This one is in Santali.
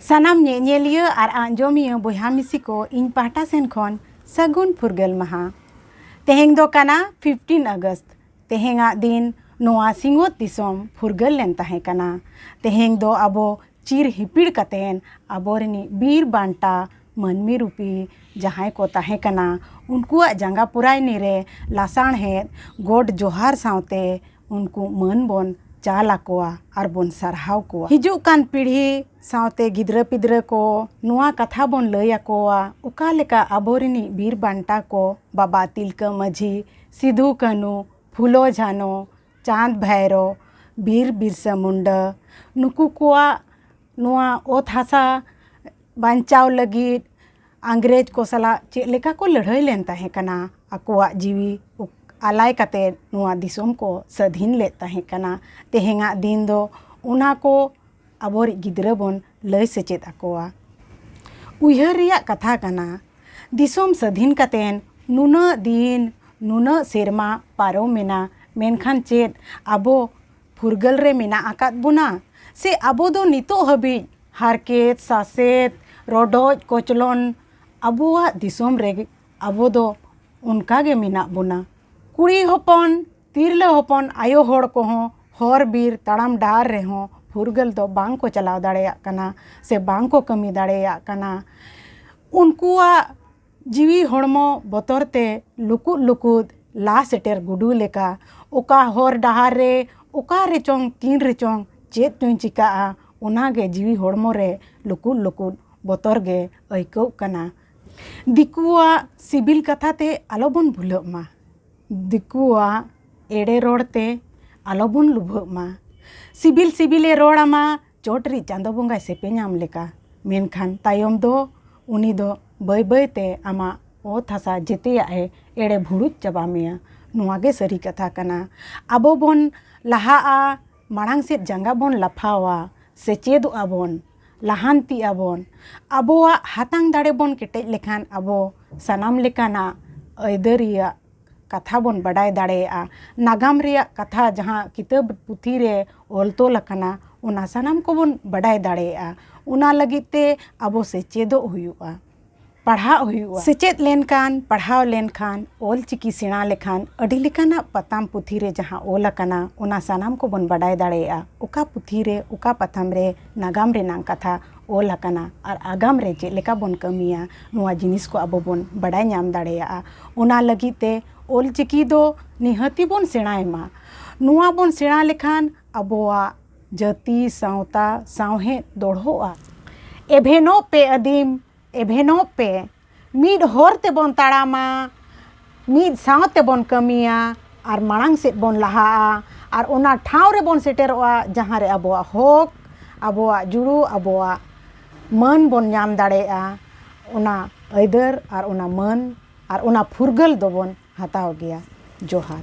ᱥᱟᱱᱟᱢ ᱧᱮᱧᱮᱞᱤᱭᱟᱹ ᱟᱨ ᱟᱸᱡᱚᱢᱤᱭᱟᱹ ᱵᱚᱭᱦᱟ ᱢᱤᱥᱤ ᱠᱚ ᱤᱧ ᱯᱟᱦᱴᱟ ᱥᱮᱱ ᱠᱷᱚᱱ ᱥᱟᱹᱜᱩᱱ ᱯᱷᱩᱨᱜᱟᱹᱞ ᱢᱟᱦᱟ ᱛᱮᱦᱮᱧ ᱫᱚ ᱠᱟᱱᱟ ᱯᱷᱤᱯᱴᱤᱱ ᱟᱜᱚᱥᱴ ᱛᱮᱦᱮᱧᱟᱜ ᱫᱤᱱ ᱱᱚᱣᱟ ᱥᱤᱧᱚᱛ ᱫᱤᱥᱚᱢ ᱯᱷᱩᱨᱜᱟᱹᱞ ᱞᱮᱱ ᱛᱟᱦᱮᱸ ᱠᱟᱱᱟ ᱛᱮᱦᱮᱧ ᱫᱚ ᱟᱵᱚ ᱪᱤᱨ ᱦᱤᱯᱤᱲ ᱠᱟᱛᱮᱱ ᱟᱵᱚ ᱨᱤᱱᱤᱡ ᱵᱤᱨ ᱵᱟᱱᱴᱟ ᱢᱟᱹᱱᱢᱤ ᱨᱩᱯᱤ ᱡᱟᱦᱟᱸᱭ ᱠᱚ ᱛᱟᱦᱮᱸ ᱠᱟᱱᱟ ᱩᱱᱠᱩᱣᱟᱜ ᱡᱟᱸᱜᱟ ᱯᱚᱨᱟᱭᱱᱤ ᱨᱮ ᱞᱟᱥᱟᱬᱦᱮᱫ ᱜᱚᱰ ᱡᱚᱦᱟᱨ ᱥᱟᱶᱛᱮ ᱩᱱᱠᱩ ᱢᱟᱹᱱ ᱵᱚᱱ ᱪᱟᱞ ᱟᱠᱚᱣᱟ ᱟᱨ ᱵᱚᱱ ᱥᱟᱨᱦᱟᱣ ᱠᱚᱣᱟ ᱦᱤᱡᱩᱜ ᱠᱟᱱ ᱯᱤᱲᱦᱤ ᱥᱟᱶᱛᱮ ᱜᱤᱫᱽᱨᱟᱹ ᱯᱤᱫᱽᱨᱟᱹ ᱠᱚ ᱱᱚᱣᱟ ᱠᱟᱛᱷᱟ ᱵᱚᱱ ᱞᱟᱹᱭ ᱟᱠᱚᱣᱟ ᱚᱠᱟ ᱞᱮᱠᱟ ᱟᱵᱚ ᱨᱤᱱᱤᱡ ᱵᱤᱨ ᱵᱟᱱᱴᱟ ᱠᱚ ᱵᱟᱵᱟ ᱛᱤᱞᱠᱟᱹ ᱢᱟᱹᱡᱷᱤ ᱥᱤᱫᱷᱩ ᱠᱟᱹᱱᱩ ᱯᱷᱩᱞᱳ ᱡᱷᱟᱱᱳ ᱪᱟᱸᱫᱽ ᱵᱷᱟᱭᱨᱳ ᱵᱤᱨ ᱵᱤᱨᱥᱟᱹ ᱢᱩᱱᱰᱟᱹ ᱱᱩᱠᱩ ᱠᱚᱣᱟᱜ ᱱᱚᱣᱟ ᱚᱛ ᱦᱟᱥᱟ ᱵᱟᱧᱪᱟᱣ ᱞᱟᱹᱜᱤᱫ ᱤᱝᱨᱮᱡᱽ ᱠᱚ ᱥᱟᱞᱟᱜ ᱪᱮᱫ ᱞᱮᱠᱟ ᱠᱚ ᱞᱟᱹᱲᱦᱟᱹᱭ ᱞᱮᱱ ᱛᱟᱦᱮᱸ ᱠᱟᱱᱟ ᱟᱠᱚᱣᱟᱜ ᱡᱤᱣᱤ ᱟᱞᱟᱭ ᱠᱟᱛᱮ ᱱᱚᱣᱟ ᱫᱤᱥᱚᱢ ᱠᱚ ᱥᱟᱹᱫᱷᱤᱱ ᱞᱮᱫ ᱛᱟᱦᱮᱸ ᱠᱟᱱᱟ ᱛᱮᱦᱮᱧᱟᱜ ᱫᱤᱱ ᱫᱚ ᱚᱱᱟ ᱠᱚ ᱟᱵᱚᱨᱤᱡ ᱜᱤᱫᱽᱨᱟᱹ ᱵᱚᱱ ᱞᱟᱹᱭ ᱥᱮᱪᱮᱫ ᱟᱠᱚᱣᱟ ᱩᱭᱦᱟᱹᱨ ᱨᱮᱭᱟᱜ ᱠᱟᱛᱷᱟ ᱠᱟᱱᱟ ᱫᱤᱥᱚᱢ ᱥᱟᱹᱫᱷᱤᱱ ᱠᱟᱛᱮ ᱱᱩᱱᱟᱹᱜ ᱫᱤᱱ ᱱᱩᱱᱟᱹᱜ ᱥᱮᱨᱢᱟ ᱯᱟᱨᱚᱢᱮᱱᱟ ᱢᱮᱱᱠᱷᱟᱱ ᱪᱮᱫ ᱟᱵᱚ ᱯᱷᱩᱨᱜᱟᱹᱞ ᱨᱮ ᱢᱮᱱᱟᱜ ᱟᱠᱟᱫ ᱵᱚᱱᱟ ᱥᱮ ᱟᱵᱚ ᱫᱚ ᱱᱤᱛᱚᱜ ᱦᱟᱹᱵᱤᱡ ᱦᱟᱨᱠᱮᱛ ᱥᱟᱥᱮᱛ ᱨᱚᱰᱚᱡ ᱠᱚᱪᱞᱚᱱ ᱟᱵᱚᱣᱟᱜ ᱫᱤᱥᱚᱢ ᱨᱮᱜᱮ ᱟᱵᱚ ᱫᱚ ᱚᱱᱠᱟ ᱜᱮ ᱢᱮᱱᱟᱜ ᱵᱚᱱᱟ ᱠᱩᱲᱤ ᱦᱚᱯᱚᱱ ᱛᱤᱨᱞᱟᱹ ᱦᱚᱯᱚᱱ ᱟᱭᱳ ᱦᱚᱲ ᱠᱚᱦᱚᱸ ᱦᱚᱨ ᱵᱤᱨ ᱛᱟᱲᱟᱢ ᱰᱟᱦᱟᱨ ᱨᱮᱦᱚᱸ ᱯᱷᱩᱨᱜᱟᱹᱞ ᱫᱚ ᱵᱟᱝ ᱠᱚ ᱪᱟᱞᱟᱣ ᱫᱟᱲᱮᱭᱟᱜ ᱠᱟᱱᱟ ᱥᱮ ᱵᱟᱝ ᱠᱚ ᱠᱟᱹᱢᱤ ᱫᱟᱲᱮᱭᱟᱜ ᱠᱟᱱᱟ ᱩᱱᱠᱩᱣᱟᱜ ᱡᱤᱣᱤ ᱦᱚᱲᱢᱚ ᱵᱚᱛᱚᱨ ᱛᱮ ᱞᱩᱠᱩᱫ ᱞᱩᱠᱩᱫ ᱞᱟ ᱥᱮᱴᱮᱨ ᱜᱩᱰᱩ ᱞᱮᱠᱟ ᱚᱠᱟ ᱦᱚᱨ ᱰᱟᱦᱟᱨ ᱨᱮ ᱚᱠᱟ ᱨᱮᱪᱚᱝ ᱛᱤᱱ ᱨᱮᱪᱚᱝ ᱪᱮᱫ ᱪᱚᱧ ᱪᱤᱠᱟᱹᱜᱼᱟ ᱚᱱᱟ ᱜᱮ ᱡᱤᱣᱤ ᱦᱚᱲᱢᱚ ᱨᱮ ᱞᱩᱠᱩᱫ ᱞᱩᱠᱩᱫ ᱵᱚᱛᱚᱨ ᱜᱮ ᱟᱹᱭᱠᱟᱹᱜ ᱠᱟᱱᱟ ᱫᱤᱠᱩᱣᱟᱜ ᱥᱤᱵᱤᱞ ᱠᱟᱛᱷᱟ ᱛᱮ ᱟᱞᱚ ᱵᱚᱱ ᱵᱷᱩᱞᱟᱹᱜ ᱢᱟ ᱫᱤᱠᱩᱣᱟᱜ ᱮᱲᱮ ᱨᱚᱲ ᱛᱮ ᱟᱞᱚ ᱵᱚᱱ ᱞᱩᱵᱷᱟᱹᱜ ᱢᱟ ᱥᱤᱵᱤᱞ ᱥᱤᱵᱤᱞᱮ ᱨᱚᱲ ᱟᱢᱟ ᱪᱚᱴ ᱨᱤᱡ ᱪᱟᱸᱫᱚ ᱵᱚᱸᱜᱟᱭ ᱥᱮᱯᱮᱧᱟᱢ ᱞᱮᱠᱟ ᱢᱮᱱᱠᱷᱟᱱ ᱛᱟᱭᱚᱢ ᱫᱚ ᱩᱱᱤ ᱫᱚ ᱵᱟᱹᱭ ᱵᱟᱹᱭ ᱛᱮ ᱟᱢᱟᱜ ᱚᱛ ᱦᱟᱥᱟ ᱡᱮᱛᱮᱭᱟᱜ ᱮ ᱮᱲᱮ ᱵᱷᱩᱲᱩᱡ ᱪᱟᱵᱟ ᱢᱮᱭᱟ ᱱᱚᱣᱟ ᱜᱮ ᱥᱟᱹᱨᱤ ᱠᱟᱛᱷᱟ ᱠᱟᱱᱟ ᱟᱵᱚ ᱵᱚᱱ ᱞᱟᱦᱟᱜᱼᱟ ᱢᱟᱲᱟᱝ ᱥᱮᱫ ᱡᱟᱸᱜᱟ ᱵᱚᱱ ᱞᱟᱯᱷᱟᱣᱟ ᱥᱮᱪᱮᱫᱚᱜᱼᱟ ᱵᱚᱱ ᱞᱟᱦᱟᱱᱛᱤᱜ ᱟᱵᱚᱱ ᱟᱵᱚᱣᱟᱜ ᱦᱟᱛᱟᱝ ᱫᱟᱲᱮ ᱵᱚᱱ ᱠᱮᱴᱮᱡ ᱞᱮᱠᱷᱟᱱ ᱟᱵᱚ ᱥᱟᱱᱟᱢ ᱞᱮᱠᱟᱱᱟᱜ ᱟᱹᱭᱫᱟᱹᱨᱤᱭᱟᱜ ᱠᱟᱛᱷᱟ ᱵᱚᱱ ᱵᱟᱰᱟᱭ ᱫᱟᱲᱮᱭᱟᱜᱼᱟ ᱱᱟᱜᱟᱢ ᱨᱮᱭᱟᱜ ᱠᱟᱛᱷᱟ ᱡᱟᱦᱟᱸ ᱠᱤᱛᱟᱹᱵ ᱯᱩᱛᱷᱤ ᱨᱮ ᱚᱞ ᱛᱚᱞ ᱟᱠᱟᱱᱟ ᱚᱱᱟ ᱥᱟᱱᱟᱢ ᱠᱚᱵᱚᱱ ᱵᱟᱰᱟᱭ ᱫᱟᱲᱮᱭᱟᱜᱼᱟ ᱚᱱᱟ ᱞᱟᱹᱜᱤᱫ ᱛᱮ ᱟᱵᱚ ᱥᱮᱪᱮᱫᱚᱜ ᱦᱩᱭᱩᱜᱼᱟ ᱯᱟᱲᱦᱟᱜ ᱦᱩᱭᱩᱜᱼᱟ ᱥᱮᱪᱮᱫ ᱞᱮᱱᱠᱷᱟᱱ ᱯᱟᱲᱦᱟᱣ ᱞᱮᱱᱠᱷᱟᱱ ᱚᱞ ᱪᱤᱠᱤ ᱥᱮᱬᱟ ᱞᱮᱠᱷᱟᱱ ᱟᱹᱰᱤ ᱞᱮᱠᱟᱱᱟᱜ ᱯᱟᱛᱟᱢ ᱯᱩᱛᱷᱤ ᱨᱮ ᱡᱟᱦᱟᱸ ᱚᱞ ᱟᱠᱟᱱᱟ ᱚᱱᱟ ᱥᱟᱱᱟᱢ ᱠᱚᱵᱚᱱ ᱵᱟᱰᱟᱭ ᱫᱟᱲᱮᱭᱟᱜᱼᱟ ᱚᱠᱟ ᱯᱩᱛᱷᱤ ᱨᱮ ᱚᱠᱟ ᱯᱟᱛᱷᱟᱢ ᱨᱮ ᱱᱟᱜᱟᱢ ᱨᱮᱱᱟᱜ ᱠᱟᱛᱷᱟ ᱚᱞ ᱟᱠᱟᱱᱟ ᱟᱨ ᱟᱜᱟᱢ ᱨᱮ ᱪᱮᱫ ᱞᱮᱠᱟ ᱵᱚᱱ ᱠᱟᱹᱢᱤᱭᱟ ᱱᱚᱣᱟ ᱡᱤᱱᱤᱥ ᱠᱚ ᱟᱵᱚ ᱵᱚᱱ ᱵᱟᱰᱟᱭ ᱧᱟᱢ ᱫᱟᱲᱮᱭᱟᱜᱼᱟ ᱚᱱᱟ ᱞᱟᱹᱜᱤᱫ ᱛᱮ ᱚᱞ ᱪᱤᱠᱤ ᱫᱚ ᱱᱤᱦᱟᱹᱛᱤ ᱵᱚᱱ ᱥᱮᱬᱟᱭ ᱢᱟ ᱱᱚᱣᱟ ᱵᱚᱱ ᱥᱮᱬᱟ ᱞᱮᱠᱷᱟᱱ ᱟᱵᱚᱣᱟᱜ ᱡᱟᱹᱛᱤ ᱥᱟᱶᱛᱟ ᱥᱟᱶᱦᱮᱫ ᱫᱚᱲᱦᱚᱜᱼᱟ ᱮᱵᱷᱮᱱᱚᱜ ᱯᱮ ᱟᱹᱫᱤᱢ ᱮᱵᱷᱮᱱᱚᱜ ᱯᱮ ᱢᱤᱫ ᱦᱚᱨ ᱛᱮᱵᱚᱱ ᱛᱟᱲᱟᱢᱟ ᱢᱤᱫ ᱥᱟᱶ ᱛᱮᱵᱚᱱ ᱠᱟᱹᱢᱤᱭᱟ ᱟᱨ ᱢᱟᱲᱟᱝ ᱥᱮᱫ ᱵᱚᱱ ᱞᱟᱦᱟᱜᱼᱟ ᱟᱨ ᱚᱱᱟ ᱴᱷᱟᱶ ᱨᱮᱵᱚᱱ ᱥᱮᱴᱮᱨᱚᱜᱼᱟ ᱡᱟᱦᱟᱸ ᱨᱮ ᱟᱵᱚᱣᱟᱜ ᱦᱚᱠ ᱟᱵᱚᱣᱟᱜ ᱡᱩᱲᱩ ᱟᱵᱚᱣᱟᱜ ᱢᱟᱹᱱ ᱵᱚᱱ ᱧᱟᱢ ᱫᱟᱲᱮᱭᱟᱜᱼᱟ ᱚᱱᱟ ᱟᱹᱭᱫᱟᱹᱨ ᱟᱨ ᱚᱱᱟ ᱢᱟᱹᱱ ᱟᱨ ᱚᱱᱟ ᱯᱷᱩᱨᱜᱟᱹᱞ ᱫᱚᱵᱚᱱ ᱦᱟᱛᱟᱣ ᱜᱮᱭᱟ ᱡᱚᱦᱟᱨ